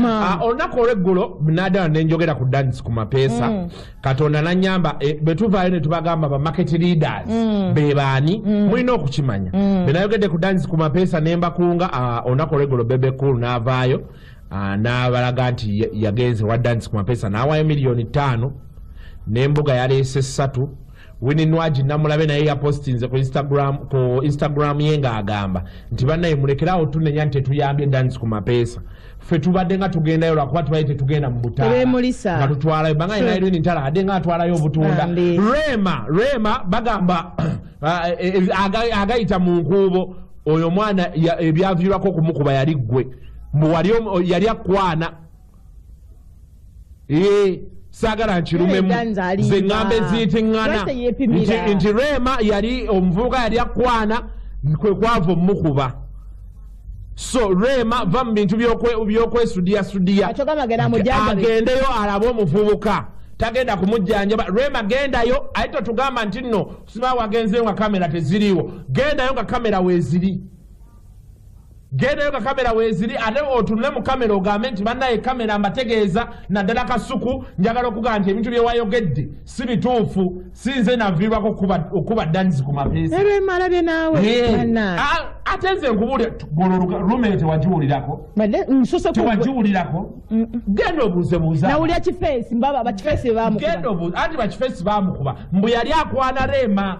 Ah, olunaku olweggulo nadala nenjogera ku dance ku mapeesa mm. katonda nanyamba eh, bwetuvaayo netubagamba ba market leaders mm. bebaani mm. mulina okukimanya benayogedde ku dance ku mapeesa nembakunga ah, olunaku olweggulo bebe cool navaayo ah, nabalaga nti yagenze wa dance ku mapeesa nawayo miliyoni ttaano nembuga yaleese ssatu Winnie Nwagi Namulabe naye yapostinze ku Instagram ku Instagram ye ng'agamba nti bannaye mulekerawo tunenya nti tetuyambye dance ku mapeesa ffe tubadde nga tugendayo lwakuba tubadde tetugenda mu butaaemulisa nga tutwalayo banga ye nayirini ntala ade nga atwalayo obutunda rema rema bagamba ah, eh, eh, agayita mu nkuubo oyo omwana ebyaviirwako okumukuba yali ggwe mbu yali akwana Yee. saagala nkirumemu ze ŋŋamba eziyitingana nti reema yali omuvubuka yali akwana kwe kwava omukuba so reema va mu bintu byokwesudiyasudiya agendeyo alabe omuvubuka tagenda kumujjanjaba reema gendayo aye totugamba nti nno siba wagenzeyo nga kamera teziriiwo gendayo nga kamera weeziri gendayo nga kamera weziri ate otunule mu kamera ogambe nti bannaye kamera mbategeeza naddala kasuku njagala okugaa nti ebintu byewayogedde si bituufu sinze naviirwako okukuba danisi ku mapeesaebemalabye naawe ate nze nkubuulira lume tewagiwulirako tewagiwulirako genda obuuzebuuzanawulira kifeesi mbaba bakifeesi bebamugenda obuuze anti bakifeesi bamukuba mbu yali akwana reema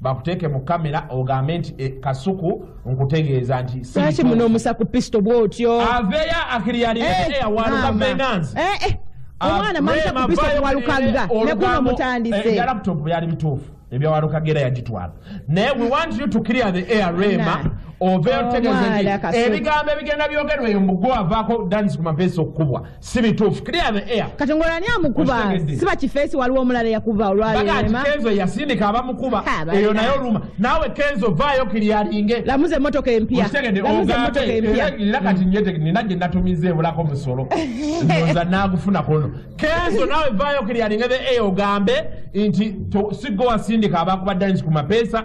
bakuteeke mu kamera ogambe nti eh, kasuku nkutegeeza nti lwaki munomusa ku pisito bwotyo aveeyo akiriyaliawalukabenganzi eh, eh, omwana mamusa ku pisito walukagga nekuno mutandise laptop byali bituufu ebyawalukagga era yagitwala naye we want you to clear the air rema oveeyo tutegeeze nti ebigambo ebigenda byogerwa eyo mugwe avaako danisi ku mapeesa okukubwa si bituufu clear the air kati ngolo ani amukuba siba kifeesi waliwo omulala yakuba olwalbagati kenzo yasindika abamukuba eyo naye oluma naawe kenzo vaayo kiriyalinge lamuza emotoka empya era kati nyete nina gye natumiza ebulako musolo ndoza naagufuna kono kenzo naawe vaayo kiriyalinge the air ogambe nti sigo wasindika abakuba dance ku mapeesa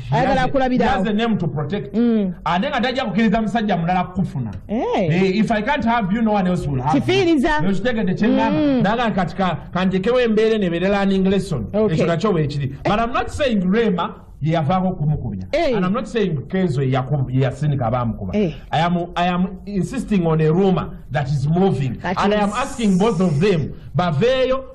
ayagala akulabirawo mm. ate nga tajja kukiriza musajja mulala kukufuna kifiirizaokitegedde kyeŋamba naga kati kanjekewo embeera eno ebeere learning lesson ekyo nakyo weekiri but am not saying rema yeyavaako okumukubya eh. and am not saying kenzo yeyasindika abaamukuba eh. i am, I am insisting on a rumor that is moving and i am asking both of them baveeyo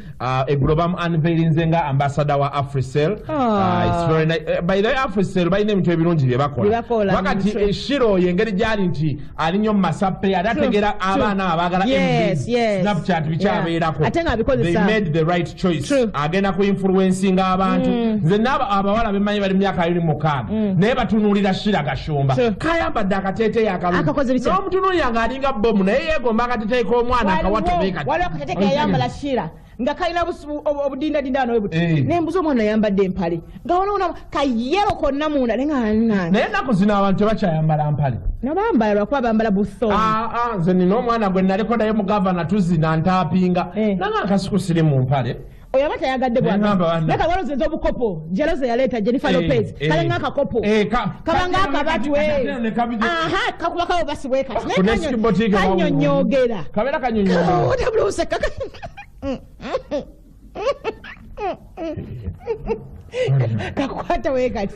Uh, eggulo bamu unveilinze nga ambasada wa africel oh. uh, uh, by the way africel balina ebintu ebirungi bye bakola kuba kati eshira oyo engeri gyali nti ali nyo mumasape yali ategera abaana abagala snapchat bikyabeerako made the right choice agenda ku influencinga abantu mm. nze naabo abawala bemanyi bali mumyaka yiri mukaaga mm. naye batunuulira shira gashumba kayambadde akateeteeyo akalungi n'omutunuulira ng'alinga bomu naye yeegomba akateeteeyo k'omwana akawatobeekati ate kayambala shira nga kalina obudindadinda nowe buti eh. naye mbuza omwana yambadde empale nga wanaona kayero konna munda naye ngaanange naye ennaku zino abantu tebakyayambala mpale nabambala lwakuba bambala buso ah, ah, nze nina omwana gwe naliko naye mugavana tuzina ntaapinga eh. nanga akasiku siri mu mpale oyo aba tayagadde bwanaga walozeza obukopo jeloza yaleeta jennifer eh, lopez eh. kale nga akakopo eh, kabanga akabatwe aha kakuba kawo basibwe kati kanyonyogera kabera kanyonyogeraotabulusekak kakwata wekati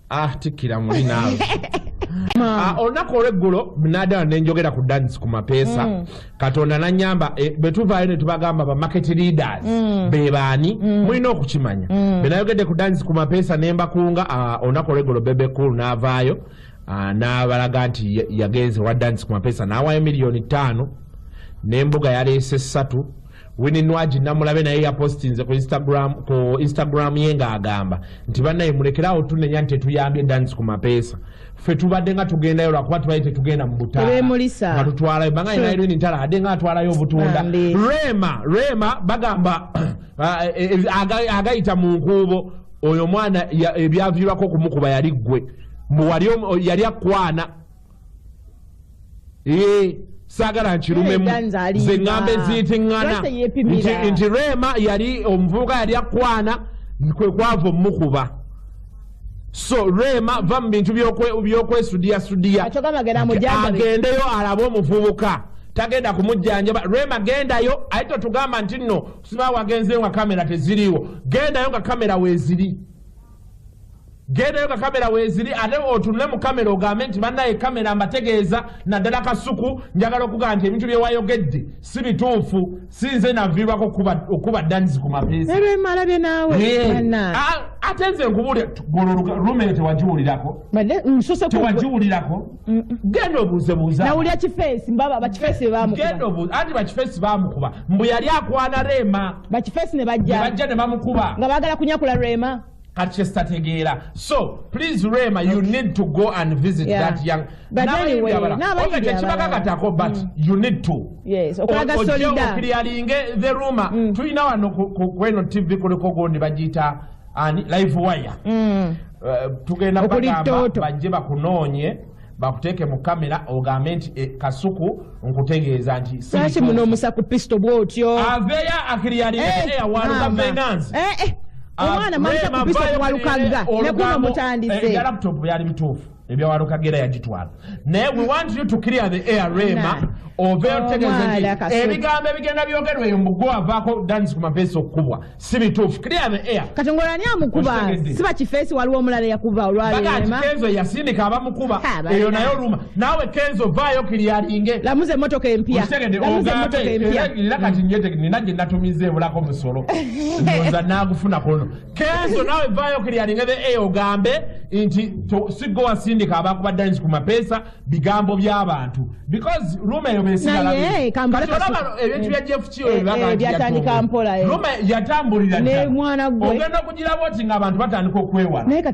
ah tikkira muli naawe Ah, olunaku olweggulo nadala nenjogera ku dance ku mapeesa mm. katonda nanyamba eh, bwetuvaayo netubagamba ba market leaders mm. bebaani mm. mulina okukimanya benayogedde ku dance ku mapeesa nembakunga ah, olunaku olweggulo bebe cool navaayo ah, nabalaga nti ya- yagenze wa dance ku mapeesa nawayo miliyoni ttaano nembuga yaleese ssatu Winnie Nwagi Namulabe naye yapostinze ku Instagram ku Instagram ye ng'agamba nti bannaye mulekere awo tunenya nti tetuyambye dance ku mapeesa ffe tubadde nga tugendayo lwakuba tubadde tetugenda mu butaalaemulisa batutwalayo banga yina hmm. irini ntala ade nga atwalayo obutunda rema rema bagamba ah, eh, eh, agayita mu nkuubo oyo omwana ebyaviirwako okumukuba yali ggwe yali akwana Eh, saagala nkirumemu ze ŋŋamba eziyitingana nti reema yali omuvubuka yali akwana kwe kwava omukuba so reema va mu bintu byokwesudiyasudiya agendeyo alabe omuvubuka tagenda kumujjanjaba reema gendayo aye totugamba nti nno siba wagenzeyo nga kamera teziriiwo gendayo nga kamera weeziri gendayo nga kamera weziri ate otunule mu kamera ogambe nti banaye kamera mbategeeza naddala kasuku njagala okugaa nti ebintu byewayogedde si bituufu sinze naviirwako okuba danisi ku mapeesaemalabye naawe ate nze nkubuulira golo rume tewagiwulirako tewagiwulirako genda obuuze buuzanawulira kifeesi mbaba bakifeesi bebamukubageenda obuuze anti bakifeesi bamukuba mbu yali akwana reema bakifeesi ne bajja bajja ne bamukuba nga baagala kunyakula reema kati kyesitategeera so please reema you need to go and visit yeah. that young nabayibyabalaobe tekibakakatako but mm. you need to okirialinge the ruma mm. tulina wano kweno tv kuliko gundi bagiyita ani live wire mm. uh, tugenda bagamba bajje bakunoonye bakuteeke mu kamera ogambe nti e, kasuku nkutegeeza nti lwaki muno omusa ku pisto bwotyo aveyo akiriyaliawalukavenganzi eh. eh, eh. ah, omwana maisa ku pisto walukagga nekuno mutandise laptop byali bituufu ebyawalo kagera yagitwala naye we want you to clear the air rema ove otegeeza ebigambo ebigenda byogerwa eyo mugwe wavaako dansi ku mafeesi okukubwa si bituufu clear the air kati ngolani amukuba siba kifeesi waliwo omulala yakuba olwalbagati kenzo yasindika abamukuba eyo naye oluma naawe kenzo vaayo kiriyalinge lamuza emotoka empya era kati nina gye natumiza ebulako musolo ndoza naagufuna kono kenzo nawe vayo kilialinga the a ogambe nti siggo wasindika abakuba dines ku mapeesa bigambo by'abantu because ruma eyo besigalaebintu bya jeff kiyobyatandika eh, eh, mpolaruma eh. yatambulira ogenda okugiraba oti nga abantu batandika okwewala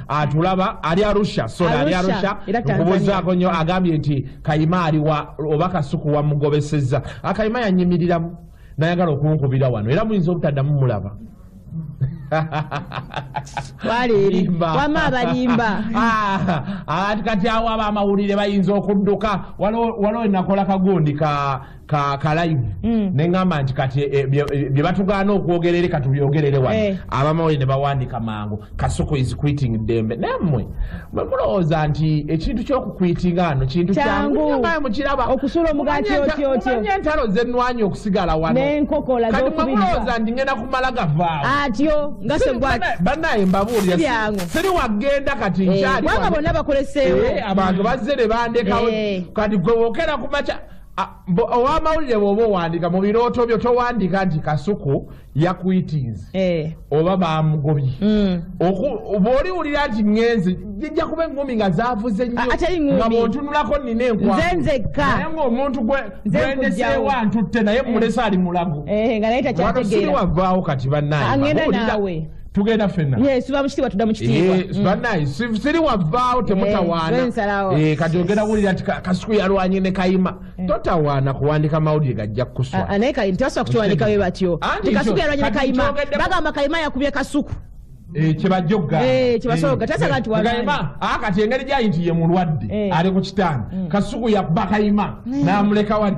atulaba ali arusha sona ali arusha nkubuzaako nnyo agambye nti kayima aliwa oba kasuku wamugobesezza akayima ah, yanyimiriramu nayagala okunkubira wano era muyinza obutaddamu mulaba wama abalimba ah, kati awo aba amawulire bayinza okudduka waliwo enakola kagundi ka kakalayivu mm. neŋamba nti kati eh, eh, bye batugaana okwogera eri katubyogerere wano eh. abamawuli ne bawandika mangu kasuku is quitting ddembe nammwe mulowooza nti ekintu kyokukwitinga ano kintu kyanguokirabaokusulomugatiotyotyonye entalo zenwanya okusigala wanoenkokolaolowooza nti ngenda kumala gavaawo atyo ngasebanaye mbabuulira siri wagenda kati nkyali bonna bakoleseewo abantu bazze ne bandekawo kati gwe wokera kumaca owamawulire bwoba owandika mu birooto byo towandika nti kasuku yakwitinze eh. oba bamugobye mm. bwoli wulira nti ngenze jijja kuba engumi nga zavuze nyonga bwontunulako nina enkwaenzeekkaye ngaomuntu gwendeseewa ntutte naye mumulese eh. ali mulago eh, nga naye takyatege wavaawo kati banaye tugenda fena yesuba mukitibwa tuda mukitibwa eh, mm. banaye siri wavaawo eh, temutawaana eh, kati ogenda wulira nti kasuku yalwanye ne kayima totawaana kuwandika mawulire gajja kukuswa ah, naye kayima tebasobola kukiwandika we batyo nti kasuku yalwanye ne kayima bagamba kayima yakubye kasuku kyebajogga kyebasobola tasaga nti kayima ah, kati engeri gyayi nti ye mulwadde ali ku kitanda mm. kasuku yabba kayima mm. namuleka wali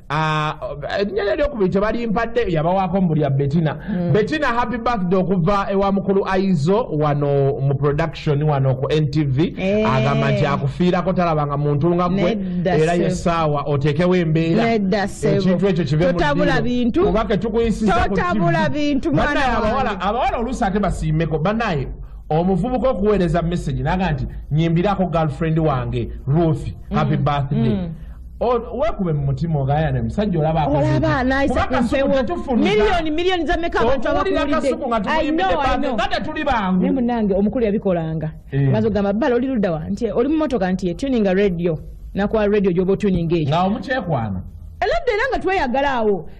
Ah, erinnya lye eryokubiri tebalimpadde yabawaako mu bulya betina hmm. betina happy birthday okuva ewa mukulu aizo wano mu production wano ku ntv eh. agamba nti akufiirako talabanga muntu nga gwe era yesaawa oteekewo embeera ekintu ekyo kiveotabula bintu oba ketukuyisizaotabula bintu banaye abawala abawala oluusi ate basiimeko banaye omuvubuka okuweereza message naga nti nyimbirako girlfriend wange ruth happy hmm. birthday mm. wekube mumutima ogayane musajja olaba olaba nayisa kumpewo milioni milioni za meka abantu abakuwulidde tuli bangu ne munange omukulu yabikolanga eh. maze ogamba bala oli ludda wa nti oli mumotoka nti etuninga radio nakuwa radio gyoba otuninga ekyo nga omukyekwana eladda era nga tweyagala awo